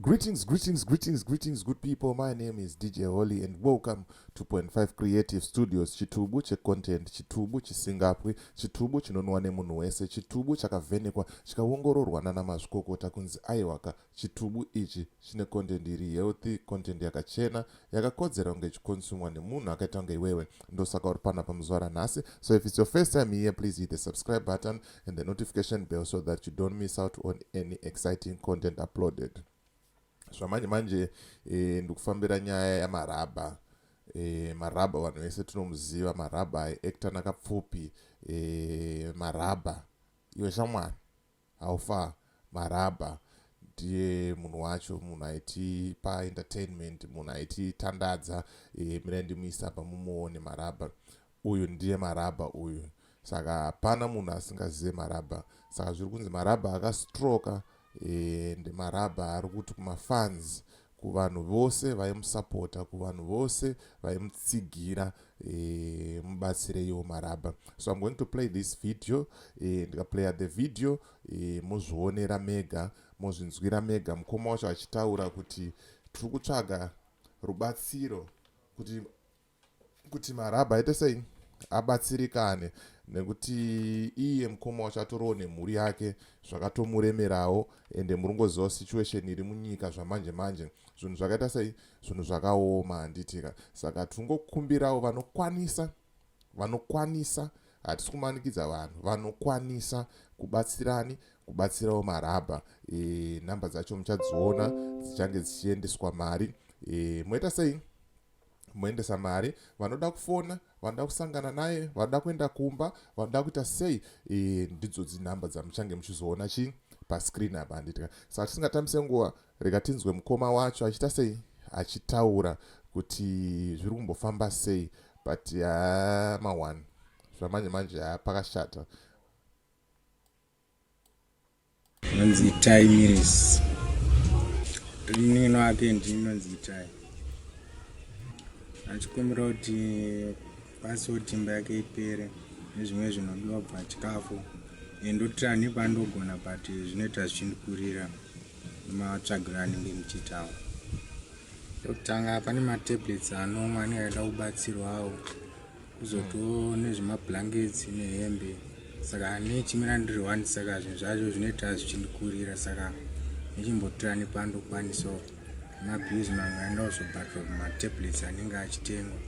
Greetings, greetings, greetings, greetings, good people. My name is DJ Holly, and welcome to Point Five Creative Studios. Chitubu checontent, chitubu chisingapwi, chitubu chinonwa nemunhu wese, chitubu chakavhenekwa chikaongororwa nana mazvikokota kunzi aiwaka chitubu ichi chine content iri healthy, content yakachena, yakakodzera kunge ichikonsumwa nemunhu akaita kunge iwewe. Ndosaka uri panapa muzuva ranhasi. So if it's your first time here, please hit the subscribe button. and the notification bell so that you don't miss out on any exciting content uploaded zvamanje manje e, ndikufambira nyaya yamarabha e, marabha vanhu vese tinomuziva marabha aiacta nakapfupi e, eh, marabha iwe shamwani haufa marabha ndiye munhu wacho munhu aiti paentertainment munhu aiti tandadza e, mira ndimuisa pamumoone marabha Uyu ndiye marabha uyu saka hapana munhu asingazive marabha saka zviri kunzi marabha akastroka and eh, marabha ari kuti kumafans kuvanhu vose vaimusapota kuvanhu vose vaimutsigira eh, mubatsireiwo marabha so im going to play this video eh, ndikaplaya the video mozvionera mega mozvinzwira mega mukoma wacho achitaura kuti tiri kutsvaga rubatsiro kuti kuti marabha aite sei abatsirikane nekuti iye mukoma wacho atorowo nemhuri yake zvakatomuremerawo ende muringoziva situation iri munyika zvamanje manje zvinhu zvakaita sei zvinhu zvakaoma handitika saka tingokumbirawo vanokwanisa vanokwanisa hatisi kumanikidza vanhu vanokwanisa kubatsirani kubatsirawo marabha e, eh, nhamba dzacho muchadziona dzichange dzichiendeswa mari e, moita sei moendesa mari vanoda kufona vanoda kusangana naye vanoda kuenda kumba vanoda kuita sei e, ndidzo dzinhamba dzamuchange muchizoona chii pascreen apa handitika saka tisingatambise nguva rega tinzwe mukoma wacho achiita sei achitaura kuti zviri kumbofamba sei but yaa mawan zvamanje manje haa pakashata Hanzi itai mirisi. Munin'ina wake ndimi hanzi itai. Achikumbira kuti password imba yake ipere nezvimwe zvinodiwa bva chikafu. Ndotira nepandogona but zvinoita zvichindikurira matsvagiro anenge ndichiitawo. Ndokutanga pane matablets anomwe anenge aida kubatsirwawo. kuzotiwo nezvemablankets nehembe saka nechimira ndiri one saka zvinhu zvacho zvinoita zvichindikurira saka nechimbotora nepandokwanisawo mabhizi mamwe aenda kuzobhadhwa kumatablets anenge achitengwa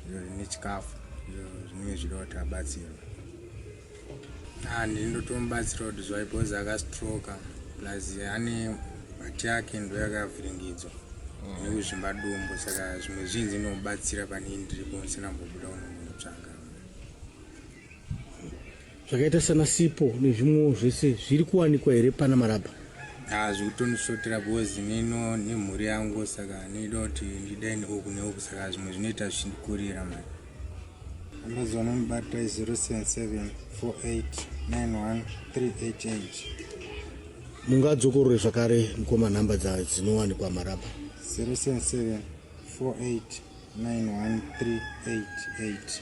izvo zvine chikafu izvo zvinenge zvidawo tabatsirwa Ah, ndini ndotomubatsirawo kuti zvaipozi akastroka plus ane mati yake ndo yakavhiringidzwa mm. nekuzvimba dumbu saka zvimwe zvinzi inomubatsira pane ndiripo musina mbobuda unomunotsvaga zvakaita sana sipo nezvimwewo zvese zviri kuwanikwa here pana marabha ah, zvikutonisvotera bhozi neno nemhuri yangu saka ndoda kuti ndidaini uku neuku saka zvimwe zvinoita zvichikurira mari Amazon unobata 0774891388 mungadzokorore zvakare mukoma nhamba dzinowanikwa marapa 0774891388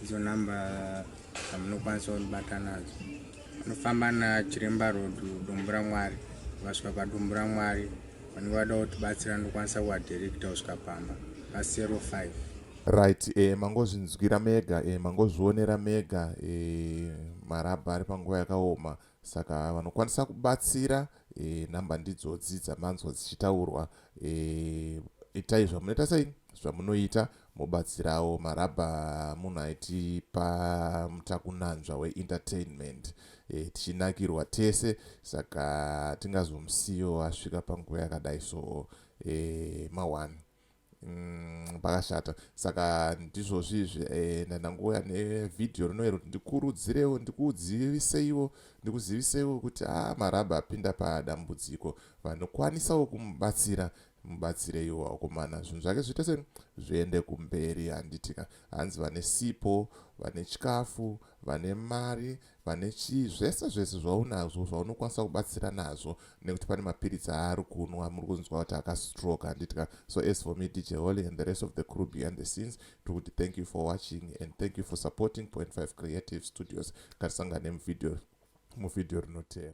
idzo nhamba dzamunokwanisa kunibata nadzo unofamba nachiremba road dombo ramwari vasvika padombo ramwari vanenge vada kutibatsira ndokwanisa kuvadirikita kusvika pamba pa 05 Right, eh, mangozvinzwira mega, eh, mangozvionera mega, eh, marabha ari panguva yakaoma saka vanokwanisa kubatsira eh, namba ndidzodzi dzamanzwa dzichitaurwa eh, itai zvamunoita sei zvamunoita mobatsirawo marabha munhu aitipa mutakunanzva weentertainment e, tichinakirwa tese saka tingazomusiyo asvika panguva yakadai so e, mawani Mm, pakashata saka ndizvozvizvi eh, ndandangouya nevhidhiyo rinoe kuti ndikurudzirewo ndikuziviseiwo ndikuziviseiwo kuti a ah, marabha apinda padambudziko vanokwanisawo kumubatsira mubatsireiwo akomana zvinhu zvake zviite se zviende kumberi handitika hanzi vane sipo vane chikafu vane mari vane chii zvese zvese zvaunazvo zvaunokwanisa kubatsira nazvo nekuti pane mapiritsi aari kunwa muri kunzwa kuti akastroke handitika so as for me dj holy and the rest of the crew behind the scenes tiri kuti thank you for watching and thank you for supporting point 5 creative studios ngatisangane muvideo muvideo rinoteera